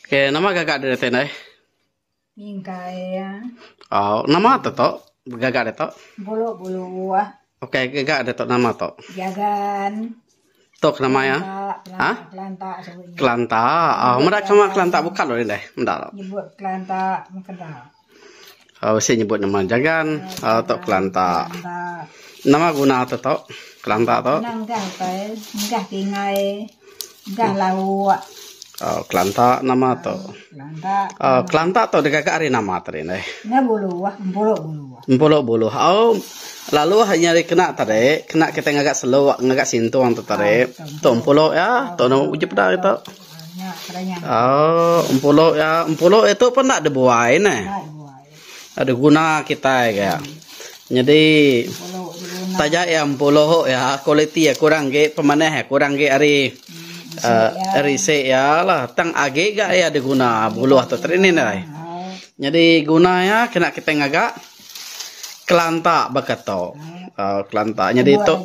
Ke nama gagak diri ti ndai? Mingkai ya. Oh, nama tu tu? Gagak dia tu? Bulu bulu ah. Okey, gagak dia tu nama tu? Jagan. Tu ke nama ya? Ha? Kelanta sebut. Kelanta. Oh, meda kama kelanta buka dulu ndai. Meda. Nyebut kelanta mengkeda. Bisi nyebut nama jagan tok kelanta. Nama guna tu tok kelanta tu? Kena enggah utai, enggah tingai, enggah lauk. Kelanta nama tu. Kelanta tu digaga ari nama tadi deh? Enggah buluh, empulu buluh. Empulu buluh. Lalu nya ari kena tadi, kena kitai ngaga seluk, ngaga sintung tu tadi. Tu empulu iya, tu ujup da ari tu. Aaa empulu iya empulu iya tu pun enda dibuai neh. Enda diguna kitai ga. Nyadi taja iya empulu iya kualiti iya kurang agi pemanah iya kurang agi ari aaa ari isi iya lah tang agi ga iya diguna buluh tu tadi nih dai. Nyadi guna iya kena kitai ngaga. Kelanta baka tu uhh kelanta nyadi tu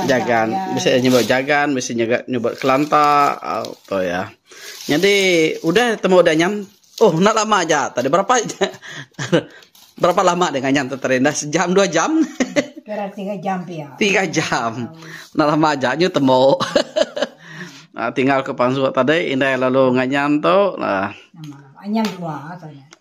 jagan bisi iya nyebut jagan bisi iya nyebut kelanta uhh tu iya nyadi udah temu dangan oh enda lama aja tadi berapa berapa lama nya dangan tu tadi dah sejam dua jam uhh tiga jam enda lama aja nyu temu uhh tinggal ku pansut tadi indai lalu nganyan tu uhh.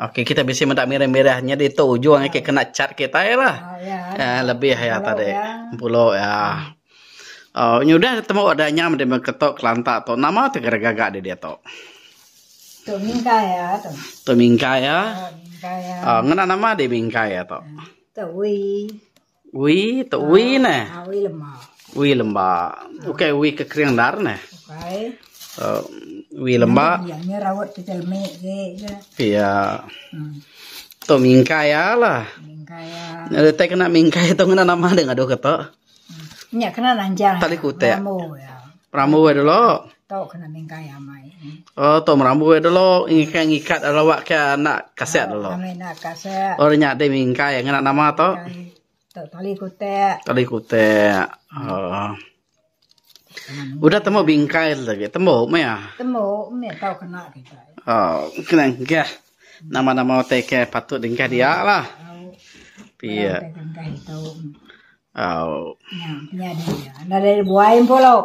Ok kita bisi meda mirih-mirih nyadi tu ujung agi kena chat kitai lah. Uhh lebih iya tadi. Pulo iya. Uhh nyudah temu udah nyam di mung keto Kelanta tu. Nama tu ngagai gaga di ditu? Tu Mingkai iya tu. Tu Mingkai iya. Uhh ngena nama di Mingkai iya tu? Tu Wee. Ui tu ui ne. Ah, ui lemba. Ui lemba. Okey, ui ke kering dar ne. Okey. Uh, ui lemba. Ya, ni raut tu celmi ke je. Ya. Hmm. Tu mingkai ya lah. Mingkai ya. Ni letak kena mingkai tu kena nama deh ngadu kata. Hmm. Nya kena nanjang. Tali kutek. Rambu ya. Perambu ai dulu. Tu kena minggai amai. Oh, tu merambu ai dulu. Ngikat ngikat lawak ke anak kaset dulu. Amai nak kaset. Oh, nya deh minggai ngena nama tu. Tu tali kutek. Tali kutek. Oh. Udah temu bingkai lagi. Temu meh. Ah? Temu meh tau kena kita. Oh, kena ngah. Nama-nama utai ke patut dengkah dia lah. Pia. Tengkah itu. Nadai buai empulu.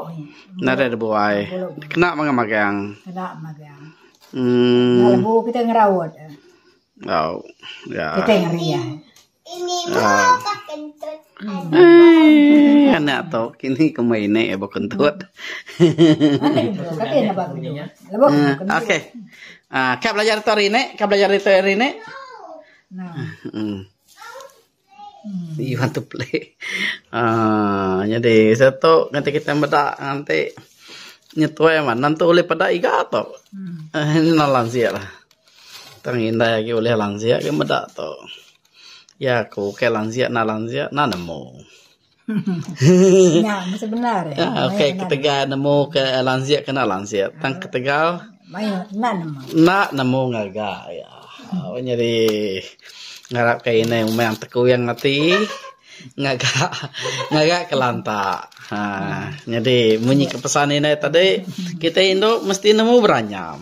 Nadai da buai. Kena magang magang. Kena magang. Enda lebu kita ngeraut. Au. Ya. Kitai ngeri ai. Ai anak tu kini komai ini abo kentut. Okey. Ah, ka belajar tu hari ini? Ka belajar hari ini? Nah. Iban tu pelik aaa nyadi seh tu ngagai kita meda nganti nyetuai amat nentu ulih peda iga tu eno lansik lah tang indai agi ulih lansik meda tu ya ko ke lansik na lansik na nemu. Okey ketegal nemu ke lanjit ke enda lanjit tang ketegal enda nemu ngaga iya nyadi ngarap ke indai umang tekuyang ati ngaga ngaga kelanta aaa nyadi mun nyi kepesan indai tadi kitai indu mesti nemu beranyam.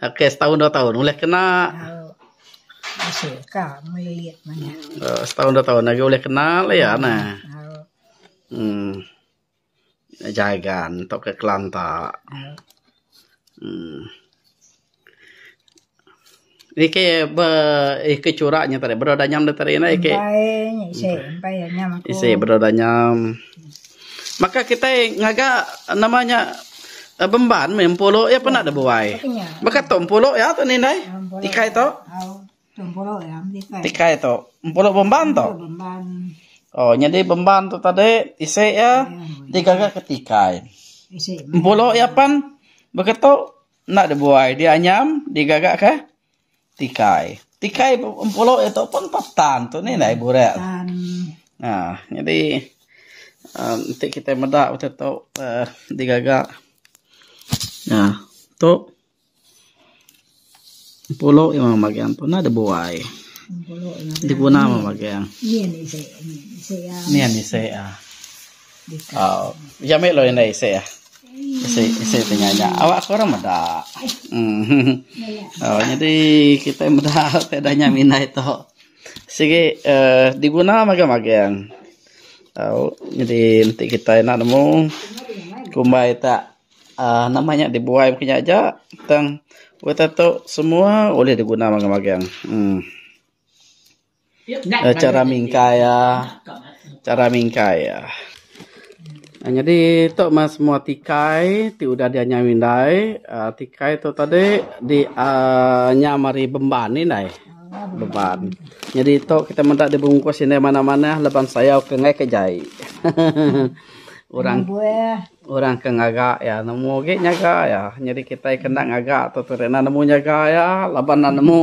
Ok setaun dua taun ulih kena. Setaun dua taun agi ulih kena la iya neh. Uhh jagan tok ka kelanta. Uhh ni ke ba eke chura nya tadi bedau danyam da tadi eke. Isi bedau danyam. Maka kitai ngaga nama nya eh, bemban meh empulu iya pun ada buai. Baka tu empulu iya tu ni indai. Tikai tu. Tikai tu. Empulu bemban tu. Oh, nyadi bemban tu tadi isi iya digaga ke tikai. Empulu iya pan baka tu enda ada buai. Dia anyam digaga ke Tikai. Tikai empulu iya tu pun pah tan tu nih indai burak. Aaa nyadi aaa enti kitai meda betu tu aaa digaga aaa tu empulu iya mah magang tu nya dibuai. Diguna mah magang. Nyin isi aaa. Iya mih law indai isi ah. Isi ti nya nya. Awak aku orang meda. Uhh nyadi kitai meda ti dah nya indai tu. Sigi uhh diguna magang magang. Uhh nyadi enti kitai enda nemu kumbai tak uhh nama nya dibuai mungkin nya aja tang wak ita tu semua ulih diguna magang magang. Uhh. Chara mingkai iya, chara mingkai iya. Nyadi tok mah semua tikai ti udah diak nyau indai, tikai tok tok tadi di aaa nyam ari Bemban indai, Bemban. Nyadi tok kitai meda dibungkus indai manah manah laban sayau ke enggai ke jai. Hehehe orang orang ke ngaga iya nemu agi nyaga iya. Nyadi kitai ke enda ngaga tok tadi enda nemu nyaga iya laban enda nemu.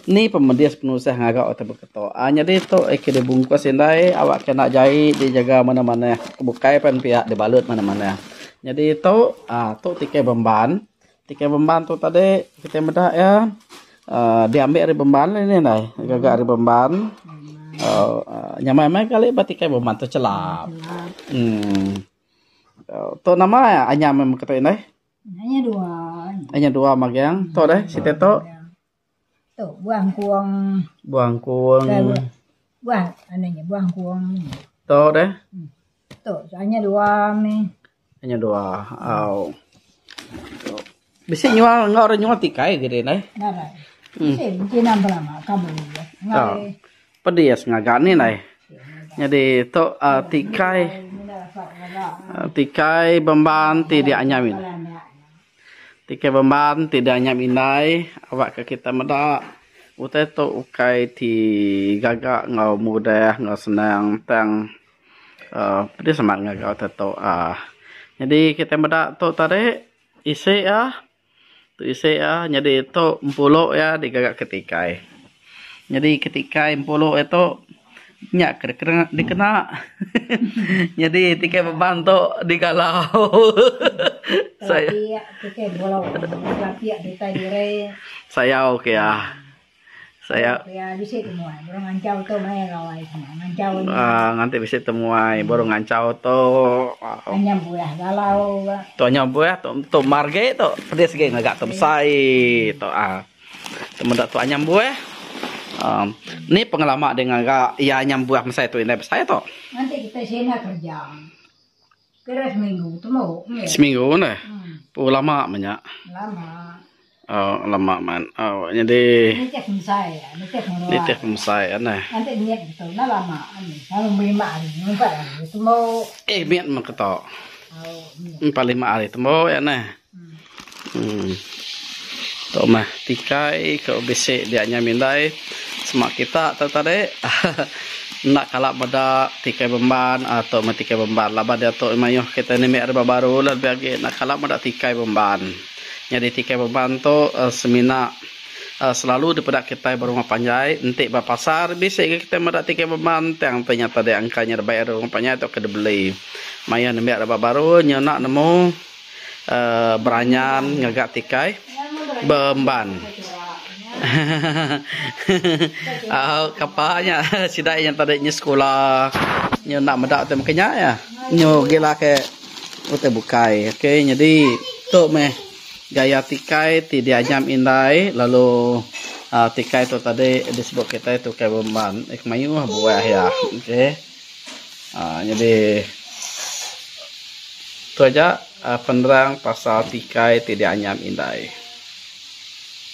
Ni pemedis penusah ngaga utai beketo. A nyadi tu eh ke dibungkus indai awak kena jai dijaga manah-manah bukai pan piak dibalut manah-manah. Nyadi tu a tu tikai bemban. Tikai bemban tu tadi kitai meda iya aaa diambi ari bemban lah ni indai. Gaga ari bemban aaa nyamai meh kali ba tikai bemban tu chelap. Emm. Tu nama iya anyam beketo indai. Nya dua magang tu deh siti tu. Buah engkuang. Buah engkuang. Buah anu nya buah engkuang. Tu deh. Tu nya dua meh. Nya dua. Au. Bisi nyual enggau orang nyual tikai gidi neh. Bisi kina belama kaban. Pedis ngaga ni nai. Nyadi tu uhh tikai uhh tikai bemban ti dianyam indai. Tikai bemban ti dianyam indai aba ka kita meda utai tu ukai ti gaga enggau mudah enggau senang tang uhh pedis amat ngaga utai tu uhh. Nyadi kita meda tu tadi isi iya. Isi iya nyadi tu empulu iya digaga ke tikai. Nyadi ke tikai empulu iya tu nya ke dikena nyadi tikai beban tu digalau. Sayau ke iya. Saya aaa nganti bisi temuai baru ngancau tu tu nya buah tu tu mar agi tu pedis agi ngaga tu besai tu aaa tu meda tu anyam buah aaa ni pengelama ding ngaga iya anyam buah mesai tu indai besai tu. Seminggu ne. Pooh lama meh nya. Aaa lama man. Aaa nyadi nitih pemesai nitih pemesai neh. Eh mit meh keto. Empa lima hari tembu yak neh. Tok meh tikai ke bisi dia nyai Mindai sema kita tu tadi enda kala meda tikai Bemban tok meh tikai Bemban laban diatu mayuh kita ni meh ari ba baru lah lebih agi enda kala meda tikai Bemban nyadi tikai Bemban tu semina selalu dipeda kitai ba rumah panjai enti ba pasar bisi ga kitai meda tikai Bemban tang nya nyata dia angka nya dibai ari rumah panjai tu ke dibeli mayuh nambah ari ba baru nyau enda nemu. Beranyan ngaga tikai beemban. Kapa nya sida iya enti nya sekula nyu enda meda ti mungkin nya iya nyu gila ke utai bukai. Ok nyadi tu meh gaya tikai ti dianyam indai lalu tikai tu tadi disebut kitai tukai beemban. Mayuh buah iya. Ok. Aaa nyadi tu aja penerang pasal tikai ti dianyam indai.